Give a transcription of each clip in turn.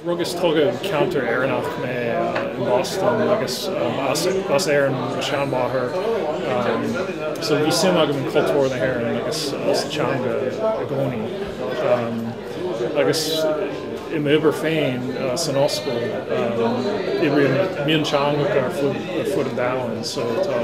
Rugadh is tógadh i gceantar Éireannach mé i mBoston agus as Éirinn mo sheanmháthair so bhí suim agam i gcultúr na hÉireann agus sa teanga i gcónaí agus i m'obair féin san ollscoil oibrím ar mionteangacha ar fud an domhain so tá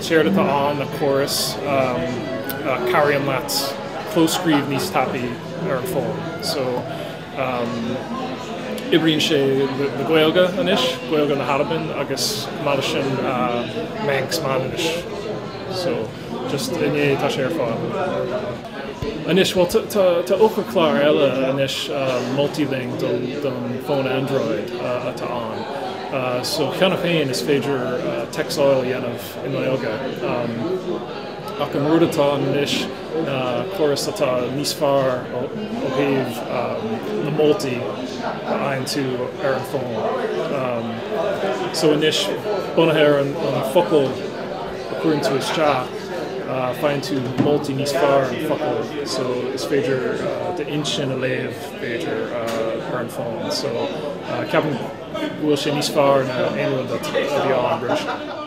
Séard atá ann ná córas a chabhraíonn leat clóscríobh níos tapúla ar an bhfón. So oibríonn sé le Gaeilge anois, Gaeilge na hAlban agus maidin seo Manx Manainnis. So just inné atá sé ar fáil. Anois, bhuel, tá eochairchlár eile anois, Multiling, don fón Android atá ann. So, cheana féin, is féidir téacsáil a dhéanamh i nGaeilge. Ach an rud atá ann anois ná córas atá níos fearr ó thaobh na moltaí a fhaigheann tú ar an bhfón. So anois, bunaithe ar an focal. a chuireann tú isteach, faigheann tú moltaí níos fearr an focal so is féidir d'intinn a léamh b'fhéidir ar an bhfón so ceapaim go bhfuil sé níos fearr ná aon rud a bhí ann roimhe seo.